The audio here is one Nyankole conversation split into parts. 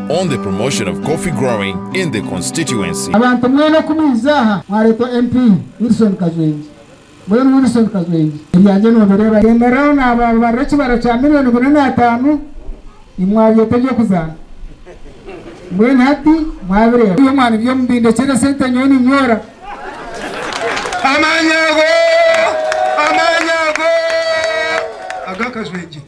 on the promotion of coffee growing in the constituency. Abantu mwena oku mwiza aha mwaretwa MP Wilson Kazwengi. Mbwenu Wilson Kazwengi ebyangye nobireba ri? Remerao nababarira ekibara kya million bina na atano imwe abyeta ebyokuzana. Mbwenu hati mwabireba byo mwana ibyo mubindekyere sente nyowe ninyora. Amaani ago, amaani ago aga Kazwengi.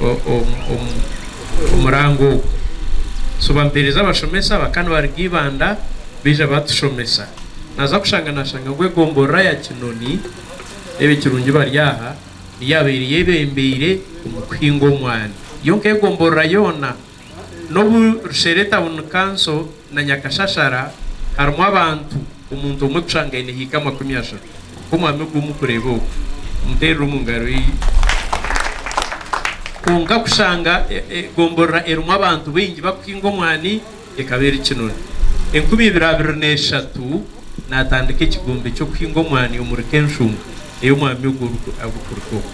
omu murango ogu. So bamuteereza abashomesa abaka nibaruga Ibanda baija batushomesa. Naaza kushanga naashanga ngu egomborora ya Kinoni, ebi ekirungi bari aha, niyo yaabaire eyebembeire omu kuhinga omwani. Yo nk'egomborora yoona N'obu Rushere etauni kanso na Nyakashashara harimu abantu omuntu omwe tushangaine haika amakumi ashatu. Nk'omwami ogwo mukureeba ogwo, muteerere omu ngaro ye. Kwonka kushanga egomborora erimu abantu baingi bakuhinga omwani ekaba eri kinoni. Enkumi ibiri abiri n'eshatu natandika ekigombe ky'okuhinga omwani omuri Kenshunga. ei omwami ogwo arikuruga obwo.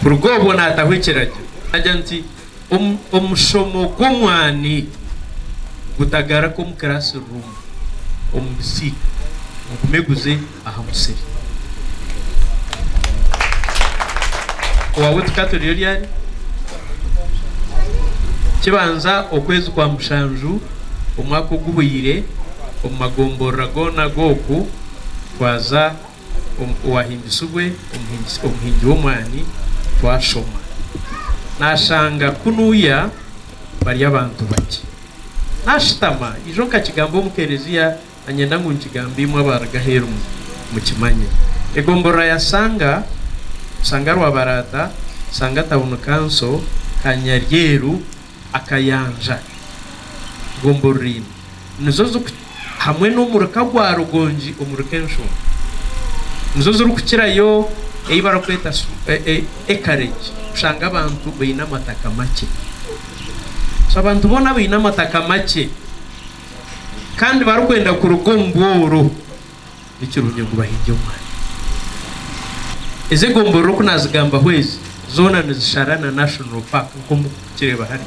Kuruga obwo naataho ekiragiro naagira nti, Omushomo gw'omwani gutagaruka omu kiraasiruumu omu bisiika, gugume guze aha musiri. Owaabu tikaturiyo ryari? Kibanza okwezi kwa mushanju omwaka oguhweire omu magomborora goona g'oku Twaza omu Owahimbisibwe omuhingisi omuhingi w'omwani twashoma. Naashanga kunuuya bari abantu bakye. Naashutama ijo nkakigamba omu Kelezia na nyenda ngu nkigambe imwe abaaruga aheeru mu mukimanye. Egomborora ya Sanga, Sanga Rwabaraata, Sanga Tawuni Kanso, Kanyaryeru, akayanja gombo ruriini nizo ziriku hamwe n'omuruka gwa rugongi omuruka enshonga nizo zirikukirayo ei barikweta acreage kushanga abantu baine amataka makye so abantu boona abaine amataka makye kandi barikwenda kuruga omu bworo. ni kirungi ngu bahinge omwani. Ezi egombolola oku naazigambaho ezi, zoona nizishara na National Park nk'oku muri kukireeba hare.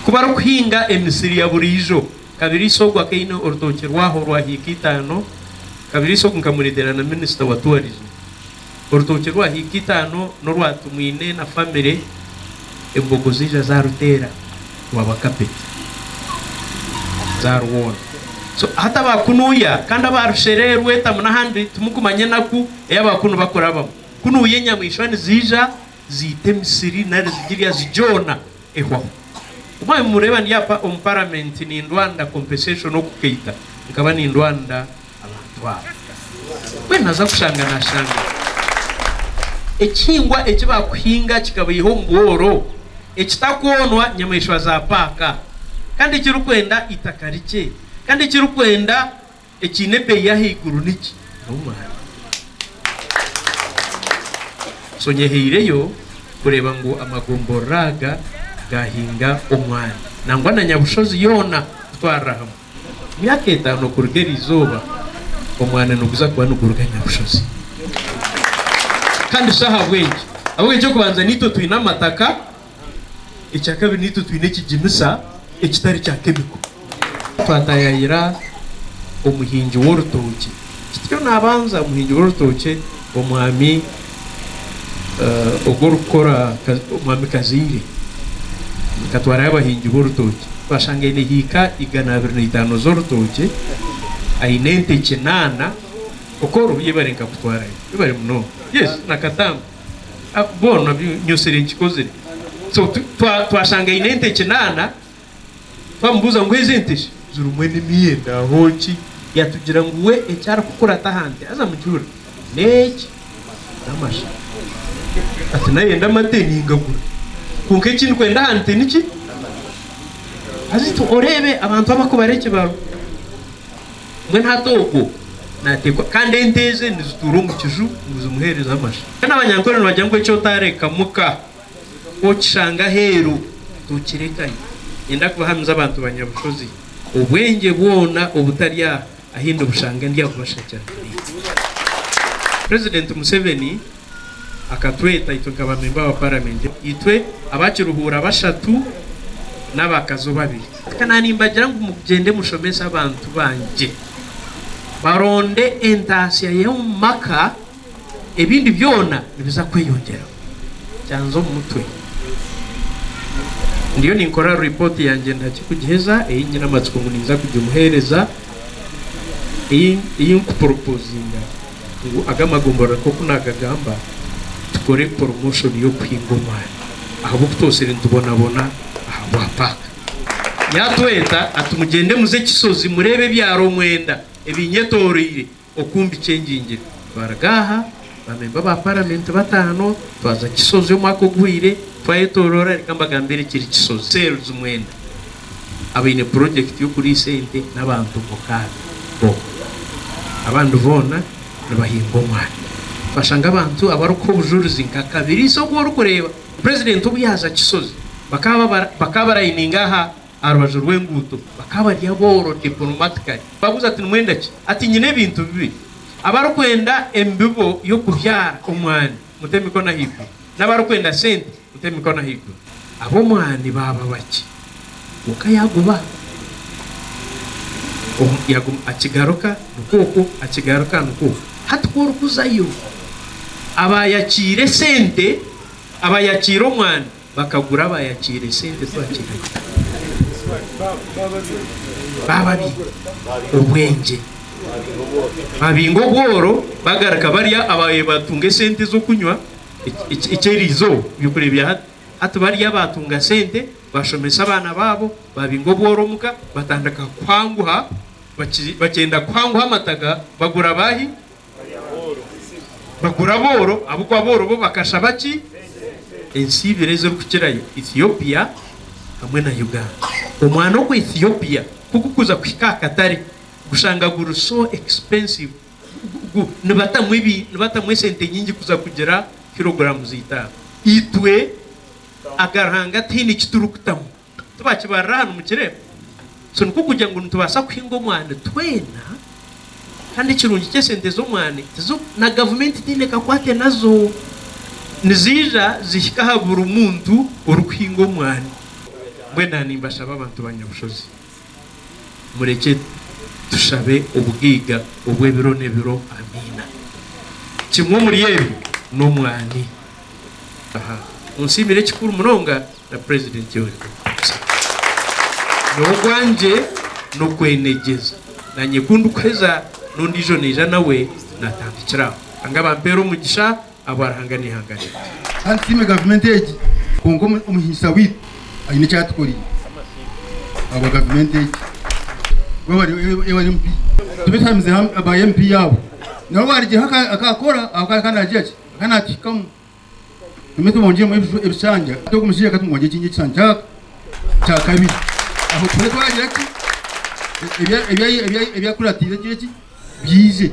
Ku bari kuhinga emisiri ya buriijo, Kabiriisa ogu akaba aine orutookye rwaho orwa hiika itaano, Kabiriisa ogu nkamureetera na Minisita wa Tourism. Orutookye rwa hiika itaano n'orwa Tumwine na famire, embogo ziija zaaruteera rwaba kapeti, zaarwoona. So hati abaakunuuya kandi abaarushereerwa etamu n'ahandi timukumanya enaku ei abaakunu bakurabamu. Kunuuya enyamaishwa niziija ziita emisiri nari zigirya zigyona ehwaho. Ku mwanya nimureeba ndi apa omu Paramenti nindwanda kompensation oku kaita nkaba nindwanda abantu abo. Mbwenu naza kushanga nashanga ekihingwa eki bakuhinga kikabaiha omu bworo, ekitakoonwa nyamaishwa za paaka, kandi ekirikwenda eitaka rikye, kandi ekirikwenda ekiine ebeeyi y'ahaiguru niki? N'omwani. So nyehaireyo kureeba ngu amagomborora aga gaahinga omwani nangwa na nyabushozi yoona kutwarira hamwe. Myaka etaano kuruga eri izooba, omwana niguza kuba niguruga Nyabushozi. Kandi shi ahabw'enki? Ahabw'okuba eky'okubanza naitwe twine amataka, ekya kabiri naitwe twine ekiginisa ekitari kya kemiko. Twataayaayira omuhingi w'orutookye. Kityo naabanza omuhingi w'orutookye, omwami. ogu orikukora omwami Kazaire nkatwarayo abahingi b'orutookye twashanga aine hiika igana abiri na itaano z'orutookye, aine ente kinaana kwonka obu yebare nkakutwarayo yebare munonga yesi na Katamba bwona nyotsire nkikozire so twashanga aine ente kinaana Twamubuuza ngu ezi ente shi zirimu enimi enda ho ki? Yatugira ngu we eki arikukurata aha nte haza mujuura n'eki, n'amasha. Ati naayenda amate ningagura. Kwonka eki ndikwenda aha nte ni ki? Haza itwe oreebe abantu aba ku bari ekibaro. Mbwenu hati ogwo naateekwa kandi ente eze nizituura omu kiju ngu zimuheereze amasha. Kandi abanyankore nibagira ngu eki otaarekamu ka. Ku okishanga aheeru, tokirekayo. Niinyenda kubahamiza abantu ba Nyabushozi, obwengye bwona obutari aha ahi ndibushanga ndi akubashakira Minisita. Purezidenti Museveni akatweta itwe nka baamemba ba Paramenti, itwe aba Kiruhuura bashatu n'abakazo babiri. Ka naanimbagira ngu mugyende mushomese abantu bangye baronde entaatsya y'omu maka. Ebindi byona nibiza kweyongyera. Kyanza omu mutwe. Ndiyo ninkora ripooti yangye ndakye kugiheza, ei nyine amatsiko ngu ninza kugimuheereza, ei ei nkuporopozinga ngu aga amagomborora nk'oku naagagamba, tukore poromoshoni y'okuhinga omwani ahabw'oku twotsire nitubonabona aha bwa paaka. Yaatweta ati, Mugyende muze Kisozi mureebe ebyaro mwenda ebinyetoroire, Oku mbikyengingire, twaruga aha, baamemba ba Paramenti bataano, twaza Kisozi omwaka oguhwire, twayetoroora, reka mbagambire ekiri Kisozi. Sales mwena abaine purojekiti y'okuriisa ente n'abantu mukaaga boona. Abandi boona nibahinga omwani. Twashanga abantu abarikuha obujurizi nka Kabiriisa ogu orikureeba, Purezidenti obu yaaza Kisozi, bakaba bakaba barayininga aha aha rubaju rw'enguuto. Bakaba bari abooro, diplomatically. Baabuuza ati, Nimwenda ki? Ati, Nyine ebintu bibiri. Abarikwenda embibo y'okubyara omwani, mute emikono ahaiguru. N'abarikwenda sente, mute emikono ahaiguru. Ab'omwani baaba bakye. Kwonka yaaguba omu, yaguma, akigaruka nikwo okwo, akigaruka nikwo okwo. Hati ku orikuzayo, abaayakiire sente, abaayakiire omwani, bakagura bayakiire esente twakire bababiire obwengye babinga obworo bagaruka barya ababaire batunga esente zokunywa ekyeriizoba ebyokurya bya hati hati barya batunga sente bashomesa abaana baabo babinga obworo omuka batandika kuhanguha bakyenda kuhanguha amataga bagura baahi Bagura booro, ahabw'okuba booro bo bakashaba ki? Ensi ibiri ezirikukirayo, Ethiopia hamwe na Uganda. Omwana omu Ethiopia ku gukuza kuhika aha katare, gushanga guri so expensive, nibatamu ebi, nibatamu esente nyingi kuza kugira kiroguramu z'eitaano. Itwe aga Ruhanga tihaine eki turikutamu. Tibakibarira aha nimukireeba? So nikwo kugira ngu nitubaasa kuhinga omwani twena kandi ekirungi ky'esente z'omwani tizo na gavumenti teine ekakwate nazo. Niziija zihika aha buri muntu orikuhinga omwani. Mbwenu aha nimbashaba abantu ba Nyabushozi murekye tushabe obugaiga obw'ebiro n'ebiro. Amiina. Kimwe omuri ebyo n'omwani. Aha. Munsiimire kikuru munonga. na President Yoweri Kaguta Museveni. Nyowe ogwangye nokwenegyeza nanye kundikuheza nondiijo naija nawe natandikira aho. Ruhanga abampeere omugisha ahabwa Ruhanga n'eihanga ryangye. Kandi tusiime gavumenti egi kwonka omuhingisa waitu aine eki atukoreire ahabwa gavumenti egi kuba aba aba MP tubeshamize hamwe aba MP abo nabo barigireho akakora ahabw'okuba akaba nagira ki akaba nakihikamu. Nimwo tubongyemu ebishanja. Hati ogu mushaija ka tumwongye ekindi ekishanja kyaka kya kabiri. Aho tube twagira ki? Ebi akuratiire bigire ki? Biije.